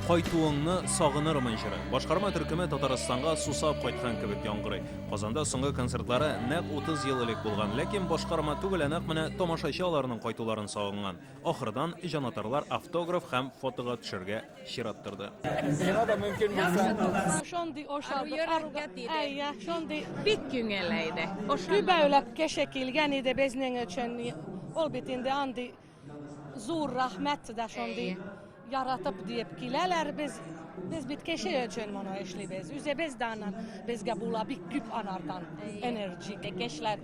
Кайтуыңны сагынырмын җыры. Башкарма төркеме Татарстанга сусап кайткан кебек яңгырый. Казанда соңгы концертлары нәкъ 30 ел элек булган, ләкин башкарма түгел, ә нәкъ менә тамашачы аларның кайтуларын сагынган. Ахырдан җанатарлар автограф һәм фотога төшәргә чират торды. Сиңа да мөмкин булса. Шундый ошады. Йөрергә диде. Әйе, шундый бик күңелле иде. Күбәүләп кеше килгән иде безнең өчен. Ул бит инде андый зур рәхмәт дә шундый яратып диеп киләләр без. Без бит кеше өчен моны эшлибез. Үзебез дә аннан безгә була бик күп анардан энергия. Кешеләр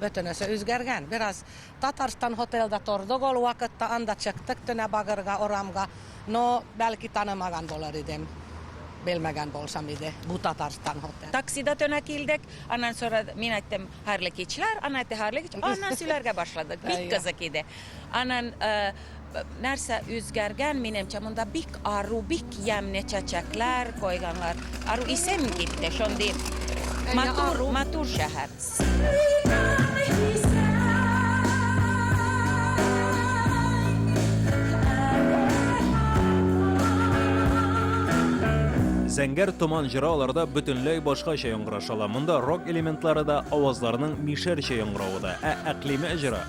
Бөтенесе үзгәргән. Бераз Татарстан Hotel-да тордык ул вакытта, анда чыктык төнә багырга, урамга. Но, бәлки танымаган булыр идем, белмәгән булсам иде, бу Татарстан Hotel. Таксида төнә килдек, аннан сорады, мин әйттем, хәерле кичләр, ана әйтте, хәерле кич, аннан сөйләргә башладык, бик кызык иде. Анан нәрсә үзгәргән, минемчә, монда бик ару, бик ямьне чәчәкләр койганлар. Ару исем китте, шундый матур, матур шәһәр. Зәңгәр томан җыры аларда бөтенләй башкача яңгырашала. Монда рок элементлары да, авазларның мишәрчә яңгыравы да. Ә Әклимә җыры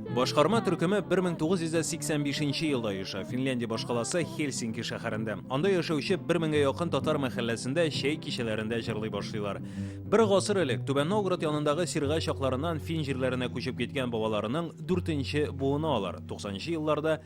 Башкарма төркеме 1985 елда оеша, Финляндия башкаласы Хельсинки шәһәрендә. Анда яшәүче 1000 гә якын татар мәхәлләсендә чәй кичәләрендә җырлый башлыйлар. Бер гасыр элек Түбән Новгород янындагы Сирга чакларыннан фин җирләренә күчеп киткән бабаларының 4 нче буыны алар, 90 нчы елларда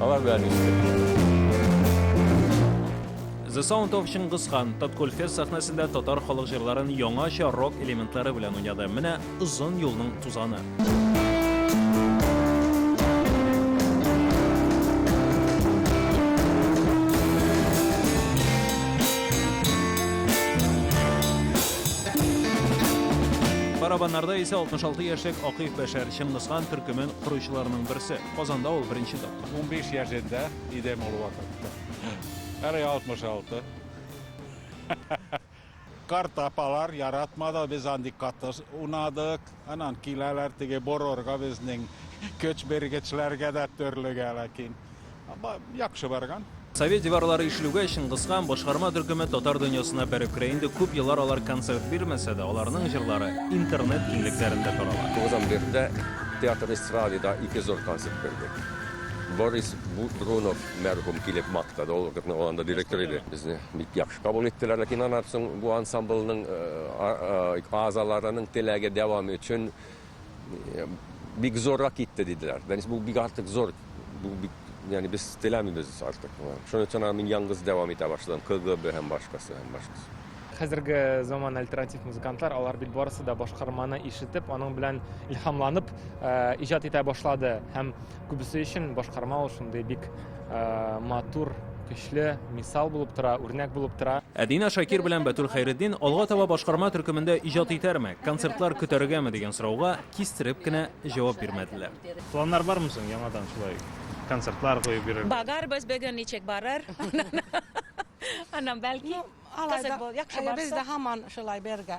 Алар белән иштек. The Sound of Чингис хан Таткульфест сәхнәсендә татар халык җырларын яңача рок элементлары белән уйнады. Менә озын юлның тузаны. Барабаннарда исә 66 яшьлек Акыйф Бәшәр Чингис хан төркемен коручыларның берсе. Казанда ул беренче тапкыр. Унбиш яшендә идем ул вакытта. Әле алтмыш алты. Карт апалар яратмады, без андый каты унадык. Анан киләләр теге борорга безнең көч биргечләргә дә төрлегә, ләкин яхшы барган. Совет диварлары ишелүгә Чыңгыз хан башкарма төркеме татар дөньясына бәреп керә инде Күп еллар алар концерт бирмәсә дә, аларның җырлары интернет киңлекләрендә тарала. Тугыздан бирле дә театр эстрадада ике зур концерт бирдек. Борис Брунов мәрхүм килеп мактады, ул вакытның анда директор иде. Безне бик яхшы кабул иттеләр, ләкин аннан соң бу ансамбльнең а азаларының теләге дәвам өчен, бик зуррак китте, диделәр. Дәнис, бу бик артык зур. Бу бик, ягъни без теләмибез артык. Шуның өчен аны мин янгыз дәвам итә башладым. КГБ һәм башкасы һәм башкасы. Хәзерге заман альтернатив музыкантлар, алар бит барысы да башкарманы ишетеп, аның белән илһамланып, э, иҗат итә башлады һәм Күбесе өчен башкарма ул шундый бик матур, көчле мисал булып тора, үрнәк булып тора. Ә Дина Шакир белән Бәтүл Хәйретдин алга таба башкарма төркемендә иҗат итәрме, концертлар көтәргәме дигән сорауга кистереп кенә җавап бирмәделәр. Планнар бармы соң яңадан шулай концертлар куеп йөрер? Багарбыз бүген ничек барыр. Аннан бәлки кызык бул, яхшы барса. Без дә һаман шулай бергә.